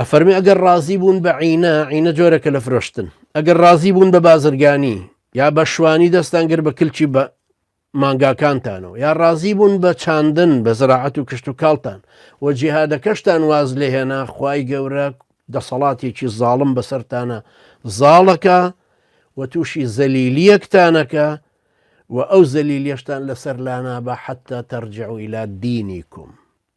ئەفەرمی ئەگەر ڕازی بوون بە عینە عینە جۆرەکە لە فرۆشتن ئەگەر ڕازی بوون بە بازرگانی یا بە شوانی دەستان گر بە کلچی بە مانگاکانتانەوە یا ڕازی بوون بە چاندن بە زراعەت و کشت و کاڵتان و جیهادەکەشتان واز لێهێنا خی گەورە دەسەڵاتێکی زاڵم بەسەرتانە زاڵەکە و تووشی زەلیلیەکتانەکە و ئەو زەلیلیەشتان لەسەر لانا بە حتا تەرجع و ئیلا دینی کوم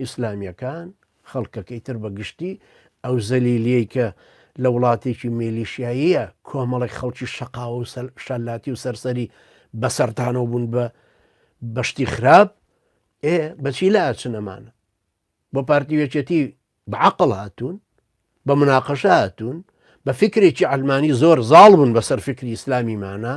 ئیسلامیەکان، خەڵکەکەی تر بە گشتی، ئەو زەلیلیەی کە لە وڵاتێکی میلیشیاییە کۆمەڵێک خەڵکی شەقاوە و شەلاتی و سەرسەری بەسەرتانەوە بوون بە بەشتی خراپ ئێ بەچی لە ئاچنەمانە بۆ پارتی وێچێتی بەعقل هاتوون بە مناقەشە هاتوون بە فکرێکی ئەلمانی زۆر زاڵ بوون بەسەر فکری ئیسلامیمانە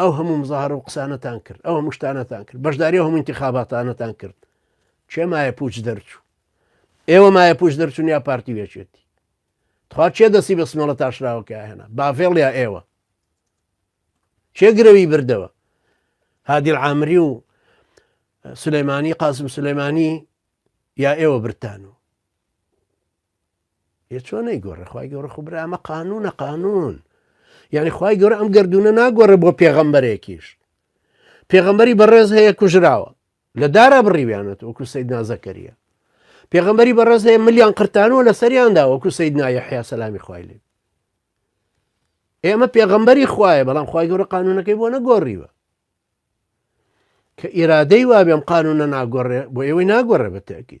ئەو هەموو مزاهر و قسانەتان کرد ئەو هەموو شتانەتان کرد بەشداری هەموو انتخاباتانەتان کرد چێ مایە پوچ دەرچوو ئێوە مایە پوش دەرچون یا پارتی وێچێتی تخوا چێ دەستی بە سمەڵە تاشراوەکە هێنا بافێڵ یا ئێوە چێ گرەوی بردەوە هادیل عامری و سلەیمانی قاسم سلەیمانی یا ئێوە برتان و چۆن نەیگۆڕێ خی گەورە خو برا ئەمە قانونە قانون یعنی خی گەورە ئەم گردونە ناگۆڕێ بۆ پێغەمبەرێکیش پێغەمبەری بەڕێز هەیە کوژراوە لە دارا بڕیویانەت وەکو سید نازەکەریە پێغەمبەری بەڕێز هەیە ملیان قرتانەوە لە سەریاندا وەکو سید نایە حیا سەلامی خوای لێ ئێمە پێغەمبەری خوایە بەڵام خی گەورە قانونەکەی بۆ نەگۆڕیوە کە ئێرادەی وابێم قانونە ناگۆڕێ بۆ ئێوەی ناگۆڕێ بەتەکی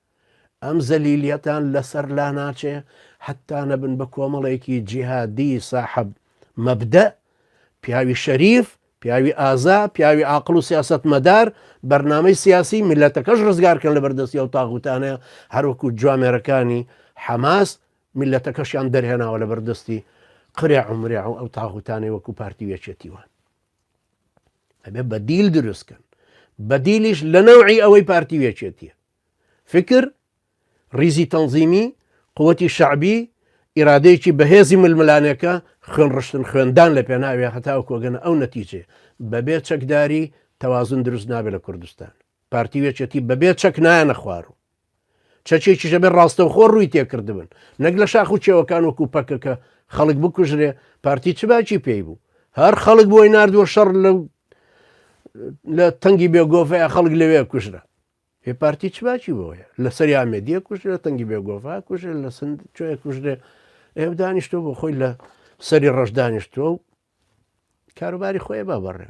ئەم زەلیلیەتان لەسەر لاناچێ حەتا نەبن بە کۆمەڵێکی جیهادی ساحەب مەبدەء، پیاوی شەریف، پیاوی ئازا، پیاوی عاقڵ و سیاسەتمەدار، بەرنامەی سیاسی، میللەتەکەش ڕزگار کەن لە بەردەستی ئەو تاغوتانە، هەروەکو جوامێرەکانی حەماس میللەتەکەشیان دەرهێناوە لە بەردەستی قرێع و مرێع و ئەو تاغوتانەی وەکو پارتی و یەکێتی وان. ئەبێ بەدیل دروستکەن بەدیلیش لە نەوعی ئەوەی پارتی وێچێتیە فکر ریزی تەنزیمی قوتی شعبی ئیرادەیەکی بەهێزی ململانێکە خوێن ڕشتن خوێندان لە پێناوێ هەتاو کۆگەنە ئەو نەتیجێ بەبێ چەکداری تەوازن دروست نابێت لە کوردستان پارتی و یەکێتی بەبێ چەک نایەنە خوار و چەکێکیش ئەبێ ڕاستەوخۆ ڕووی تێکردبن نەک لە شاخ و کێوەکان وەکو پەکەکە خەڵک بکوژرێ پارتی چ باکی پێی بوو هەر خەڵک بۆی نردووە شەڕ لە لە تەنگی بێگۆڤەیە خەڵک لەوێ کوژرە هێ پارتی چ باکی بۆیە لە سەری ئامێدیە کوژرە لە تەنگی بێگۆڤا کوژرێ لە سند چۆیە کوژرێ ئێ دانیشتۆ بۆ خۆی لە سەری ڕەش دانیشتووە و کاروباری خۆی با بەڕێ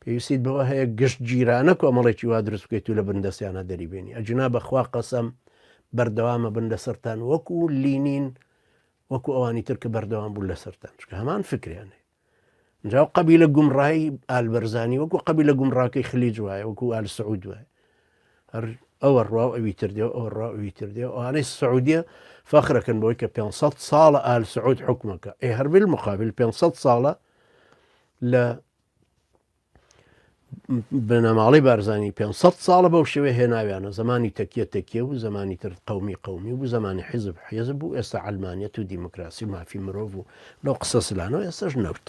پێویستیت بەوە هەیە گشت گیرانە کۆمەڵێکی وا دروست بکەیت و لە بن دەستیانە دەریبێنی ئەجنا بەخوا قەسەم بەردەوامە بن لەسەران وەکو لینین وەکو ئەوانی تر کە بەردەوام بوو لەسەران چکە هەمان فکریانێ جاو قبی لە گومڕایی ئالبەرزانی وەکو قبی لە گومڕاکەی خلیج وایە وەکو ئال سعود وایە هەر ئەوە ڕوا ئەوی تر دێ ئەو ڕوا ئەوی تر دێ ئەوانەی سعودیە فەخرەکەن بۆی کە 500 ساڵە ئال سعود حکومەکە ئێ هەربل مقابل 500 ساڵە لە بنەماڵەی بارزانانی 500 ساڵە بەو شێوێ هێناویانە زمانی تەکیە تەکیە و زمانی تر قومی قومی و زمانی حیزب حێزب و ئێستا ئەلمانیت و دیموکراسی و مافی مرۆڤ و لەو قسە سلانەوە ئێستش نەوت